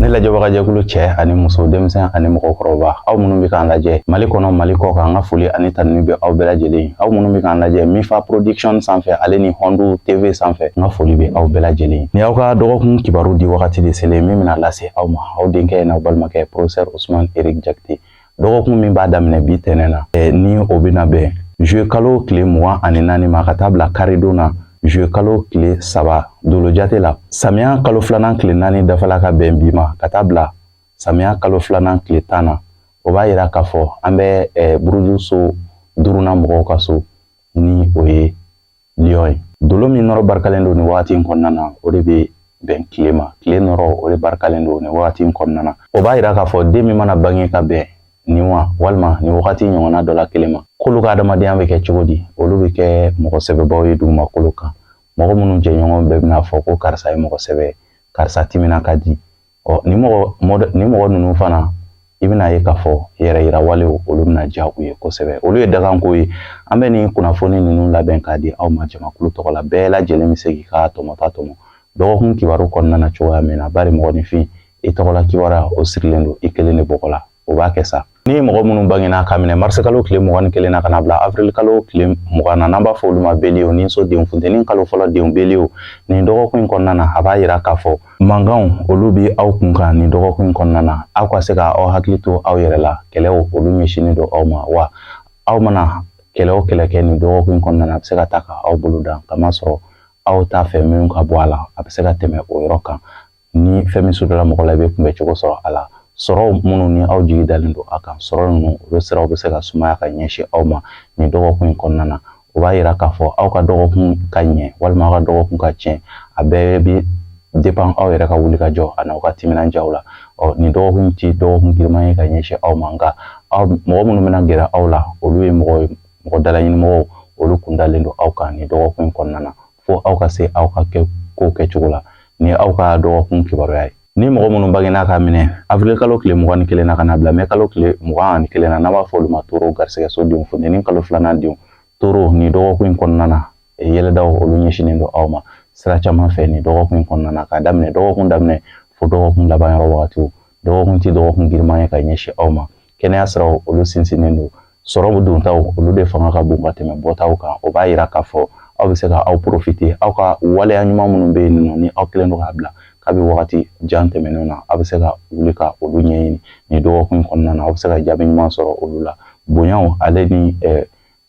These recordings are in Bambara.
ne lajɛbagajɛkulu cɛ ani muso denmisɛn ani mɔgɔkɔrɔba aw minnu bɛ k'an lajɛ mali kɔnɔ mali kɔ kan an ka foli ani tanuni bɛ aw bɛɛ lajɛlen aw minnu bɛ k'an lajɛ mifa production sanfɛ ale ni hɔndu tv sanfɛ n ka foli bɛ aw bɛɛ lajɛlen ni aw ka dɔgɔkun kibaru di wagati de selen min bɛna lase aw ma aw denkɛ n'aw balimakɛ professeur usman eric jakite dɔgɔkun min b'a daminɛ bi tɛnɛn na ni o bɛna bɛn juillet kalo tile mugan ani naani ma ka taa bila karidon na juillet kalo tile saba dolojate la samiya kalo filanan tile naani dafala ka bɛn bi ma ka taa bila samiya kalo filanan tile tan na o b'a yira k'a fɔ an bɛ buruju so duurunan mɔgɔw ka so ni o ye liyɔn ye dolo min nɔrɔ barikalen don nin wagati in kɔnɔna na o de bɛ bɛn tile ma tile nɔrɔ o de barikalen don nin wagati in kɔnɔna na o b'a yira k'a fɔ den min mana bange ka bɛn nin wa walima nin wagati ɲɔgɔnna dɔ la kelen ma k'olu ka adamadenya bɛ kɛ cogo di olu bɛ kɛ mɔgɔ sɛbɛbaw ye dugumakolo kan mɔgɔ minnu jɛɲɔgɔn bɛɛ bɛna fɔ ko karisa ye mɔgɔ sɛbɛ karisa timina ka di ɔ nin mɔgɔ mɔdɛ nin mɔgɔ ninnu fana i bɛn'a ye k'a fɔ yɛrɛ yira walew olu bɛna diya u ye kosɛbɛ olu ye daganko ye an bɛ nin kunnafoni ninnu labɛn k'a di aw ma jamakulu tɔgɔ la bɛɛ lajɛlen bɛ se k'i ka tɔmɔta tɔmɔ dɔgɔkun kibaru kɔnɔna na cogoya min na bari mɔgɔninfin i tɔgɔla kibaruya o sirilen don i kelen de bɔgɔ la o b'a kɛ sa ni mɔgɔ minnu bangena k'a minɛ marisi kalo tile mugan ni kelen na ka na bila avril kalo tile mugan na n'an b'a fɔ olu ma beliye ni so den funteni kalo fɔlɔ denw beliye nin dɔgɔkun in kɔnɔna na a b'a yira k'a fɔ mankanw olu bɛ aw kun kan nin dɔgɔkun in kɔnɔna na aw ka se ka aw hakili to aw yɛrɛ la kɛlɛw olu ɲɛsinnen don aw ma wa aw mana kɛlɛ o kɛlɛ kɛ nin dɔgɔkun in kɔnɔna na a bɛ se ka taa ka aw bolo dan k'a masɔrɔ aw t'a fɛ minw ka bɔ a la a bɛ se ka tɛmɛ o yɔrɔ kan ni fɛn min sudara mɔgɔ la i bɛ kunbɛn cogo sɔrɔ a la sɔrɔ minnu ni aw jigi dalen don a kan sɔrɔ ninnu olu siraw bɛ se ka sumaya ka ɲɛsin aw ma nin dɔgɔkun in kɔnɔna na o b'a yira k'a fɔ aw ka dɔgɔkun ka ɲɛ walima aw ka dɔgɔkun ka tiɲɛ a bɛɛ bɛ depan aw yɛrɛ ka wuli ka jɔ ani aw ka timinandiyaw la ɔ nin dɔgɔkun tɛ dɔgɔkun giriman ye ka ɲɛsin aw ma nka aw mɔgɔ minnu bɛna gɛrɛ aw la olu ye mɔgɔ ye mɔgɔ dalaɲinimɔgɔw olu kun dalen don aw kan nin dɔgɔkun in kɔnɔna na fo aw ka se aw ka kɛ kow kɛcogo la ni aw ka dɔgɔkun kibaruya ye ni mɔgɔ minnu bangena k'a minɛ avril kalo tile mugan ni kelen na ka na bila mɛ kalo tile mugan ani kelen na n'an b'a fɔ olu ma toro garisɛgɛso denw funteni kalo filanan denw toro nin dɔgɔkun in kɔnɔna na yɛlɛdaw olu ɲɛsinnen don aw ma sira caman fɛ nin dɔgɔkun in kɔnɔna na k'a daminɛ dɔgɔkun daminɛ fo dɔgɔkun laban yɔrɔ wagatiw dɔgɔkun tɛ dɔgɔkun giriman ye ka ɲɛsin aw ma kɛnɛya siraw olu sinsinnen don sɔrɔ dontaw olu de fanga ka bon ka tɛmɛ bɔtaw kan o b'a yira k'a fɔ aw bɛ se ka aw porofite aw ka waleya ɲuman minnu bɛ yen nɔ ni aw kɛlen don k'a bila kabi wagati jan tɛmɛnenw na aw bɛ se ka wuli ka olu ɲɛɲini nin dɔgɔkun kɔnɔna na aw bɛ se ka jaabi ɲuman sɔrɔ olu la bonyaw ale ni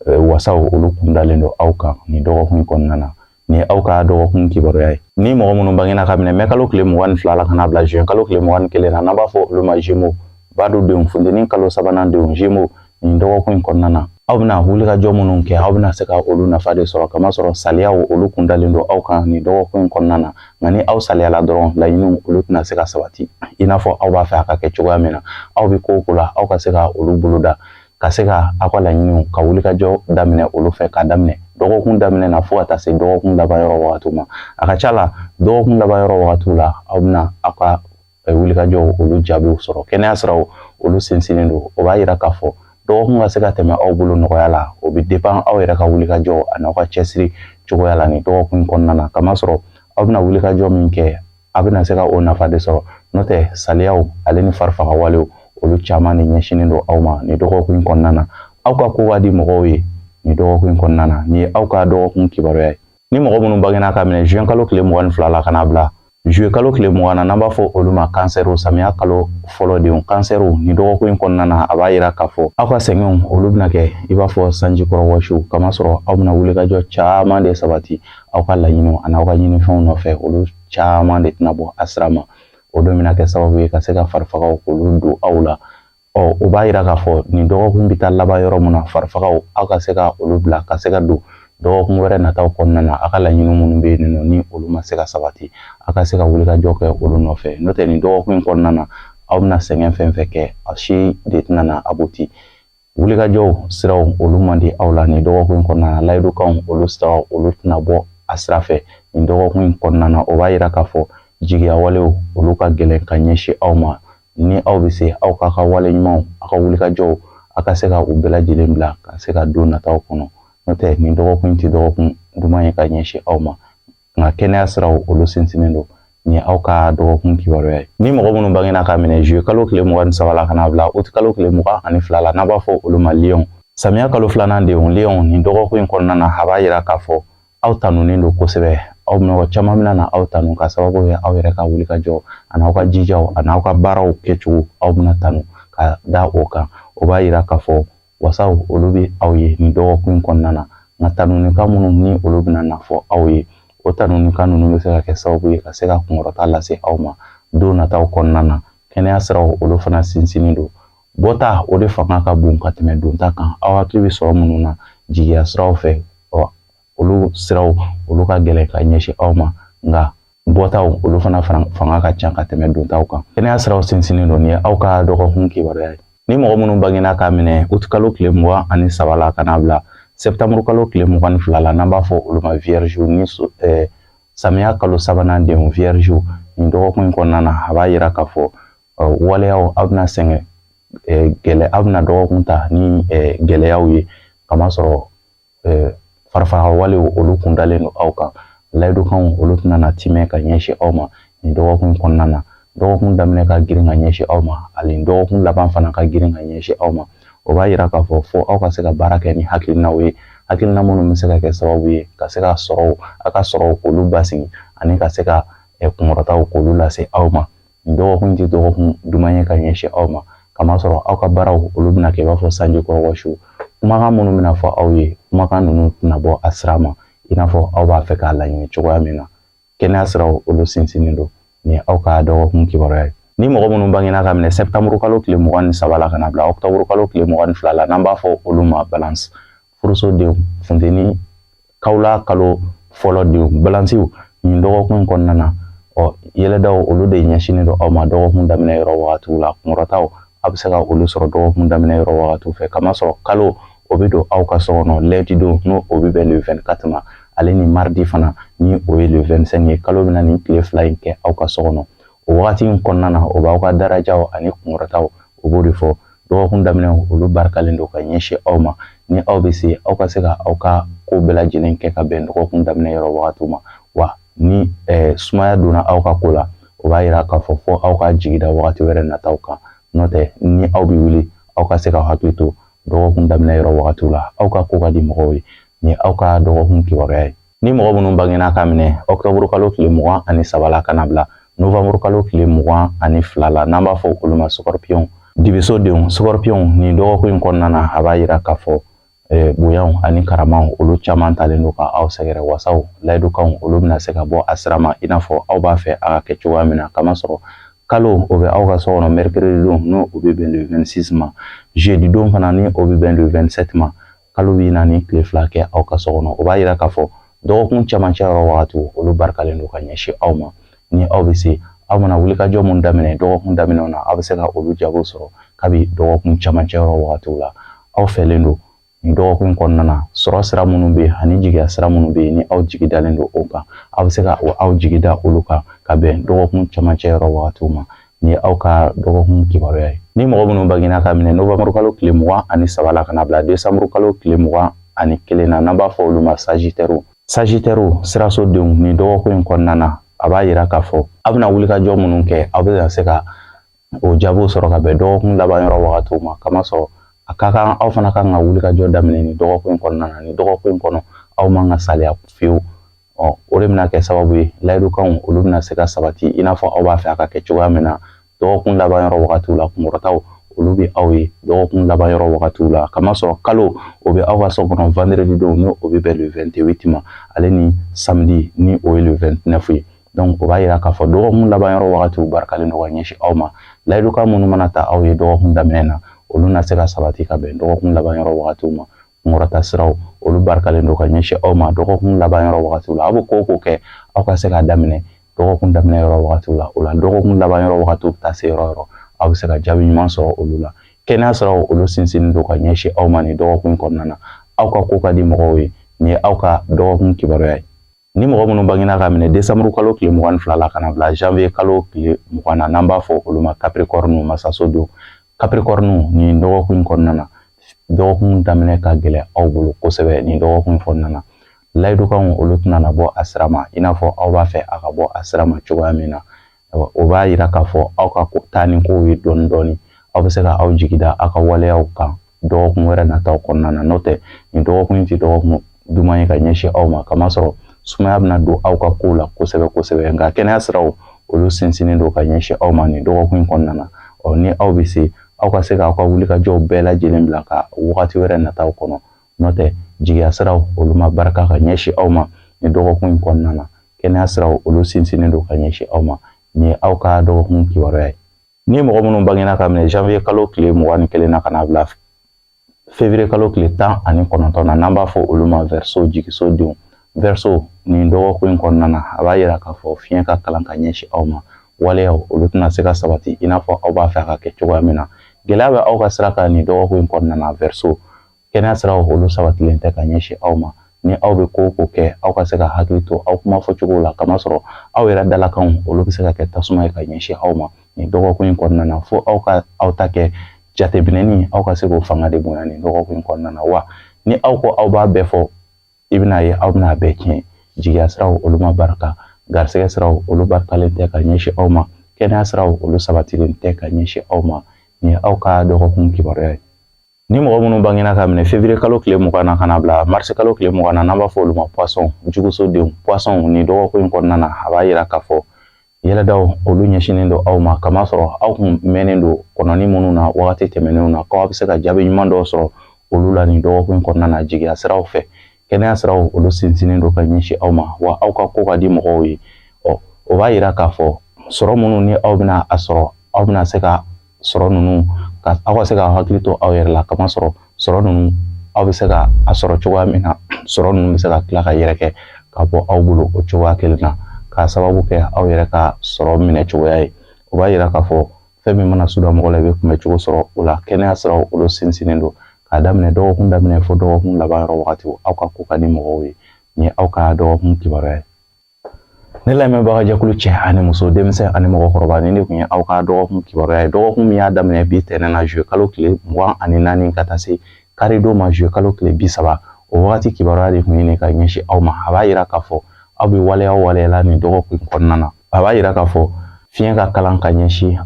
wasaw olu kun dalen don aw kan nin dɔgɔkun kɔnɔna na Nin ye aw ka dɔgɔkun kibaruya ye ni mɔgɔ minnu bangena ka minɛ mɛkalo tile mugan ni fila la ka n'a bila juin kalo tile mugan ni kelen na n'an b'a fɔ olu ma jemo b'a don denw funteni kalo sabanan denw jemo nin dɔgɔkun in kɔnɔna na aw bɛna wulikajɔ minnu kɛ aw bɛna se ka olu nafa de sɔrɔ kamasɔrɔ saliyaw olu kun dalen don aw kan nin dɔgɔkun in kɔnɔna na nka ni aw saliyala dɔrɔn laɲiniw olu tɛna se ka sabati i n'a fɔ aw b'a fɛ a ka kɛ cogoya min na aw bɛ ko o ko la aw ka se ka olu boloda ka se ka aw ka laɲiniw ka wulikajɔ daminɛ olu fɛ k'a daminɛ dɔgɔkun daminɛ na fo ka taa se dɔgɔkun laban yɔrɔ wagatiw ma a ka ca la dɔgɔkun laban yɔrɔ wagatiw la aw bɛna aw ka eh, wulikajɔw olu jaabiw sɔrɔ kɛnɛya siraw olu sinsinnen don o b'a yira k'a fɔ dɔgɔkun ka se ka tɛmɛ aw bolo nɔgɔya la o bɛ depan aw yɛrɛ ka wulikajɔ ani aw ka cɛsiri cogoya la nin dɔgɔkun kɔnɔna na kamasɔrɔ aw bɛna wulikajɔ min kɛ aw bɛna se ka o nafa de sɔrɔ n'o tɛ saliyaw ale ni farifaga walew olu caman de ɲɛsinnen don aw ma nin dɔgɔkun in kɔnɔna na aw ka ko ka di mɔgɔw ye nin dɔgɔkun in kɔnɔna na nin ye aw ka dɔgɔkun kibaruya ye ni mɔgɔ minnu bangena ka minɛ juin kalo tile mugan ni fila la ka n'a bila juillet kalo tile mugan na n'an b'a fɔ olu ma kansɛriw samiya kalo fɔlɔ denw kansɛriw nin dɔgɔkun in kɔnɔna na a b'a yira k'a fɔ aw ka sɛgɛnw olu bɛna kɛ i b'a fɔ sanji kɔrɔ wɔsiw kamasɔrɔ aw bɛna wulikajɔ caman de sabati aw ka laɲiniw ani aw ka ɲinifɛnw nɔfɛ olu caman de tɛna bɔ a sira ma o don bɛna kɛ sababu ye ka se ka farifagaw k'olu don aw la ɔ o b'a yira k'a fɔ nin dɔgɔkun bɛ taa laban yɔrɔ min na farifagaw aw ka se ka olu bila ka se ka don dɔgɔkun wɛrɛ nataw kɔnɔna na aw ka laɲini minnu bɛ yen nɔ ni olu ma se ka sabati aw ka se ka wulikajɔ kɛ olu nɔfɛ n'o tɛ nin dɔgɔkun in kɔnɔna na aw bɛna sɛgɛn fɛn fɛn kɛ a si de tɛna na abuti wulikajɔw siraw olu man di aw la nin dɔgɔkun kɔnɔna na layidukanw olu siraw olu tɛna bɔ a sira fɛ nin dɔgɔkun in kɔnɔna na o b'a yira k'a fɔ jigiya walew olu ka gɛlɛn ka ɲɛsin aw ma ni aw bɛ se aw k'aw ka wale ɲumanw aw ka wulikajɔw aw ka se ka u bɛɛ lajɛlen bila ka se ka don nataw kɔnɔ n'o tɛ nin dɔgɔkun in tɛ dɔgɔkun duman ye ka ɲɛsin aw ma nka kɛnɛya siraw olu sinsinnen don nin ye aw ka dɔgɔkun kibaruya ye ni mɔgɔ minnu bangena ka minɛ zuye kalo tile mugan ni saba la ka n'a bila uti kalo tile mugan ni fila la n'an b'a fɔ olu ma liyɔn samiya kalo filanan denw liyɔn nin dɔgɔkun in kɔnɔna na a b'a yira k'a fɔ aw tanunen don kosɛbɛ aw mɔgɔ caman bɛna na aw tanu ka sababu kɛ aw yɛrɛ ka wulikajɔ ani aw ka jijaw ani aw ka baaraw kɛcogo aw bɛna tanu ka da o kan o b'a yira k'a fɔ wasaw olu bɛ aw ye nin dɔgɔkun kɔnɔna na nka tanunikan minnu ni olu bɛna na fɔ aw ye o tanunikan ninnu bɛ se ka kɛ sababu ye ka se ka kunkɔrɔta lase aw ma don nataw kɔnɔna na kɛnɛya siraw olu fana sinsinnen don bɔta o de fanga ka bon ka tɛmɛ donta kan aw hakili bɛ sɔrɔ minnu na jigiya siraw fɛ olu siraw olu ka gɛlɛn ka ɲɛsin aw ma nka bɔtaw olu fana fanga ka ca ka tɛmɛ dontaw kan kɛnɛya siraw sinsinnen don ni aw ka dɔgɔkun kibaruya ye ni mɔgɔ minnu bangena k'a minɛ uti kalo tile mugan ani saba la ka n'a bila sɛtanburu kalo tile mugan ni fila la n'an b'a fɔ olu ma viyɛriziw ni eh, samiya kalo sabanan denw viyɛriziw nin dɔgɔkun in kɔnɔna na a b'a yira k'a fɔ eh, waleyaw aw bɛna sɛgɛn eh, gɛlɛ aw bɛna dɔgɔkun ta ni eh, gɛlɛyaw ye kamasɔrɔ eh, farafarawalew olu kun dalen don aw kan layidukanw olu tɛna na timɛ ka ɲɛsin aw ma nin dɔgɔkun kɔnɔna na dɔgɔkun daminɛ ka girin ka ɲɛsin aw ma ani dɔgɔkun laban fana ka girin ka ɲɛsin aw ma o b'a yira k'a fɔ fo aw ka se ka baara kɛ ni hakilinaw ye hakilina minnu bɛ se ka kɛ sababu ye ka se ka sɔrɔw a ka sɔrɔw k'olu basigi ani ka se ka eh, kunkɔrɔtaw k'olu lase aw ma nin dɔgɔkun tɛ dɔgɔkun duman ye ka ɲɛsin aw ma kamasɔrɔ aw ka baaraw olu bɛna kɛ i b'a fɔ sanji kɔrɔ wɔsi kumakan minnu bɛna fɔ aw ye kumakan ninnu tɛna bɔ a sira ma i n'a fɔ aw b'a fɛ k'a laɲini cogoya min na kɛnɛya siraw olu sinsinnen don ni aw ka dɔgɔkun kibaruya ye ni mɔgɔ minnu bangena ka minɛ sɛtanburu kalo tile mugan ni saba la ka na bila ɔkutɔburu kalo tile mugan ni fila la n'an b'a fɔ olu ma balance furuso denw funteni kawla kalo fɔlɔ denw balansiw nin dɔgɔkun kɔnɔna na ɔ yɛlɛdaw olu de ɲɛsinnen don aw ma dɔgɔkun daminɛ yɔrɔ wagatiw la kunkɔrɔtaw a bɛ se ka olu sɔrɔ dɔgɔkun daminɛ yɔrɔ wagatiw fɛ kamasɔrɔ kalo o bɛ don aw ka so kɔnɔ lundi don n'o o bɛ bɛn le 24 ma ale ni maridi fana ni o ye le 25 ye kalo bɛna nin tile fila in kɛ aw ka so kɔnɔ o wagati in kɔnɔna na o b'aw ka darajaw ani kunkɔrɔtaw o b'o de fɔ dɔgɔkun daminɛ olu barikalen don ka ɲɛsin aw ma ni aw bɛ se aw ka se ka aw ka ko bɛɛ lajɛlen kɛ ka bɛn dɔgɔkun daminɛ yɔrɔ wagati ma wa ni eh, sumaya donna aw ka ko la o b'a yira k'a fɔ fo aw ka jigi da wagati wɛrɛ nataw kan n'o tɛ ni aw bɛ wuli aw ka se ka hakili to dɔgɔkun daminɛ yɔrɔ wagatiw la aw ka ko ka di mɔgɔw ye ni aw ka dɔgɔkun kibaruya ye Ni mɔgɔ minnu bangena ka minɛ ɔkutɔburu kalo tile mugan ani saba la ka na bila novanburu kalo tile mugan ani fila la n'an b'a fɔ olu ma sukɔrɔpiyɔnw dibiso denw sukɔrɔpiyɔnw nin dɔgɔkun in kɔnɔna na a b'a yira k'a fɔ eh, bonyaw ani karamaw olu caman talen don ka aw sɛgɛrɛ wasaw layidukanw olu bɛna se ka bɔ a sira ma i n'a fɔ aw b'a fɛ a ka kɛ cogoya min na kamasɔrɔ kalo o bɛ aw ka so kɔnɔ mercredi don n'o o bɛ bɛn le 26 ma jeudi don fana ni o bɛ bɛn le 27 ma kalo bɛna nin tile fila kɛ aw ka so kɔnɔ o b'a yira k'a fɔ dɔgɔkun camancɛ yɔrɔ wagati olu barikalen don ka ɲɛsin aw ma ni aw bɛ se aw mana wulikajɔ minnu daminɛ dɔgɔkun daminɛ na aw bɛ se ka olu jago sɔrɔ kabi dɔgɔkun camancɛ yɔrɔ wagati la aw fɛlen don nin dɔgɔkun kɔnɔna na sɔrɔ sira minnu bɛ yen ani jigiya sira minnu bɛ yen ni aw jigi dalen don o kan aw bɛ se ka aw jigi da olu kan ka bɛn dɔgɔkun camancɛ yɔrɔ wagati ma nin ye aw ka dɔgɔkun kibaruya ye ni mɔgɔ minnu bangena ka minɛ novanburu kalo tile mugan ani saba la ka na bila desanburu kalo tile mugan ani kelen na n'an b'a fɔ olu ma sajitɛriw sajitɛriw sirasodenw nin dɔgɔkun in kɔnɔna na a b'a yira k'a fɔ aw bɛna wulikajɔ minnu kɛ aw bɛ se ka o jaabiw sɔrɔ ka bɛn dɔgɔkun laban yɔrɔ wagatiw ma kamasɔrɔ a ka kan aw fana kan ka wulikajɔ daminɛ nin dɔgɔkun in kɔnɔna na nin dɔgɔkun in kɔnɔ aw man ka saliya fiyewu ɔ o de bɛna kɛ sababu ye layidukanw olu bɛna se ka sabati i n'a fɔ aw b'a fɛ a ka kɛ cogoya min na dɔgɔkun laban yɔrɔ wagatiw la kunkɔrɔtaw olu bɛ aw ye dɔgɔkun laban yɔrɔ wagatiw la kamasɔrɔ kalo o bɛ aw ka so kɔnɔ vendredi don n'o o bɛ bɛn le 28 ma ale ni samedi ni o ye le 29 ye donc o b'a yira k'a fɔ dɔgɔkun laban yɔrɔ wagatiw barikalen don ka ɲɛsin aw ma layidukan minnu mana ta aw ye dɔgɔkun daminɛ na olu na se ka sabati ka bɛn dɔgɔkun laban yɔrɔ wagatiw ma kunkɔrɔta siraw olu barikalen don ka ɲɛsin aw ma dɔgɔkun laban yɔrɔ wagati la aw bɛ ko o ko kɛ aw ka se k'a daminɛ dɔgɔkun daminɛ yɔrɔ wagati la o la dɔgɔkun laban yɔrɔ wagati bɛ taa se yɔrɔ o yɔrɔ aw bɛ se ka jaabi ɲuman sɔrɔ olu la kɛnɛya siraw olu sinsinnen don ka ɲɛsin aw ma nin dɔgɔkun kɔnɔna na aw ka ko ka di mɔgɔw ye nin ye aw ka dɔgɔkun kibaruya ye Ni mɔgɔ minnu bangena ka minɛ desanburu kalo tile mugan ni fila la ka na bila janvier kalo tile mugan na n'an b'a fɔ olu ma kapirikɔriniw masasodenw kapirikɔriniw nin dɔgɔkun kɔnɔna na dɔgɔkun daminɛ ka gɛlɛn aw bolo kosɛbɛ nin dɔgɔkun kɔnɔna na layidukanw olu tɛna na bɔ a sira ma i n'a fɔ aw b'a fɛ a ka bɔ a sira ma cogoya min na o b'a yira k'a fɔ aw ka taa ni kow ye dɔɔni dɔɔni aw bɛ se ka aw jigi da aw ka waleyaw kan dɔgɔkun wɛrɛ nataw kɔnɔna na n'o tɛ nin dɔgɔkun in tɛ dɔgɔkun duman ye ka ɲɛsin aw ma kamasɔrɔ sumaya bɛna don aw ka kow la kosɛbɛ kosɛbɛ nka kɛnɛya siraw olu sinsinnen don ka ɲɛsin aw ma nin dɔgɔkun in kɔnɔna na ɔ ni aw bɛ se aw ka se k'aw ka wulikajɔw bɛɛ lajɛlen bila ka wagati wɛrɛ nataw kɔnɔ N'o tɛ jigiya siraw olu ma barika ka ɲɛsin aw ma nin dɔgɔkun in kɔnɔna na kɛnɛya siraw olu sinsinnen don ka ɲɛsin aw ma nin ye aw ka dɔgɔkun kibaruya ye ni mɔgɔ minnu bangena ka minɛ janvier kalo tile mugan ni kelen na ka na bila février kalo tile tan ani kɔnɔntɔn na n'an b'a fɔ olu ma verseau jigisodenw verseau nin dɔgɔkun in kɔnɔna na a b'a yira k'a fɔ fiɲɛ ka kalan ka ɲɛsin aw ma waleyaw olu tɛna se ka sabati i n'a fɔ aw b'a fɛ a ka kɛ cogoya min na gɛlɛya bɛ aw ka sira kan nin dɔgɔkun in kɔnɔna na verseau kɛnɛya siraw olu sabatilen tɛ ka ɲɛsin aw ma ni aw bɛ ko o ko kɛ aw ka se ka hakili to aw kuma fɔcogo la kamasɔrɔ aw yɛrɛ dalakanw olu bɛ se ka kɛ tasuma ye ka ɲɛsin aw ma nin dɔgɔkun in kɔnɔna na fo aw ka aw ta kɛ jateminɛni aw ka se k'o fanga de bonya nin dɔgɔkun in kɔnɔna na wa ni aw ko aw b'a bɛɛ fɔ i bɛna ye aw bɛna a bɛɛ tiɲɛ jigiya siraw olu ma barika garisɛgɛ siraw olu barikalen tɛ ka ɲɛsin aw ma kɛnɛya siraw olu sabatilen tɛ ka ɲɛsin aw ma nin ye aw ka dɔgɔkun kibaruya ye Ni mɔgɔ minnu bangena k'a minɛ février kalo tile mugan na ka na bila mars kalo tile mugan na n'an b'a fɔ olu ma poisson jugusodenw poisson nin dɔgɔkun in kɔnɔna na a b'a yira k'a fɔ yɛlɛdaw olu ɲɛsinnen don aw ma ka masɔrɔ aw kun mɛnnen don kɔnɔni minnu na wagati tɛmɛnenw na k'aw bɛ se ka jaabi ɲuman dɔw sɔrɔ olu la nin dɔgɔkun in kɔnɔna na jigiya siraw fɛ kɛnɛya siraw olu sinsinnen don ka ɲɛsin aw ma wa aw ka ko ka di mɔgɔw ye ɔ o b'a yira k'a fɔ sɔrɔ minnu ni aw bɛna a sɔrɔ aw bɛna se ka sɔrɔ ninnu ka aw ka se ka hakili to aw yɛrɛ la ka masɔrɔ sɔrɔ ninnu aw bɛ se ka a sɔrɔ cogoya min na sɔrɔ ninnu bɛ se ka tila ka yɛrɛkɛ ka bɔ aw bolo o cogoya kelen na k'a sababu kɛ aw yɛrɛ ka sɔrɔ minɛ cogoya ye o b'a yira k'a fɔ fɛn min mana suda mɔgɔ la i bɛ kunbɛn cogo sɔrɔ o la kɛnɛya siraw olu sinsinnen don k'a daminɛ dɔgɔkun daminɛ fo dɔgɔkun laban yɔrɔ wagati aw ka ko ka di mɔgɔw ye nin ye aw ka dɔgɔkun kibaruya ye ne lamɛnbaga jɛkulu cɛ ani muso denmisɛn ani mɔgɔkɔrɔba nin de tun ye aw ka dɔgɔkun kibaruya ye dɔgɔkun min y'a daminɛ bi tɛnɛn na juillet kalo tile mugan ani naani ka taa se karidon ma juillet kalo tile bi saba o wagati kibaruya de tun ye nin ka ɲɛsin aw ma a b'a yira k'a fɔ aw bɛ waleya waleyala nin dɔgɔkun in kɔnɔna na a b'a yira k'a fɔ fiɲɛ ka kalan ka ɲɛsin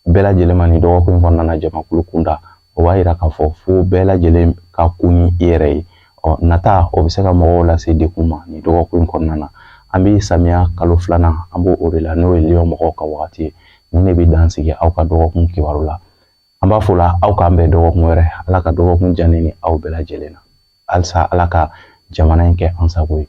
bɛɛ lajɛlen ma nin dɔgɔkun in kɔnɔna na jamakulu kunda o b'a yira k'a fɔ fo bɛɛ lajɛlen ka ko ni i yɛrɛ ye ɔ nata o bɛ se ka mɔgɔw lase degun ma nin dɔgɔkun in kɔnɔna na an bɛ samiya kalo filanan an b'o o de la n'o ye lion mɔgɔw ka wagati ye nin de bɛ dan sigi aw ka dɔgɔkun kibaru la an b'a fɔ la aw k'an bɛn dɔgɔkun wɛrɛ ala ka dɔgɔkun diya ne ni aw bɛɛ lajɛlen na halisa ala ka jamana in kɛ an sago ye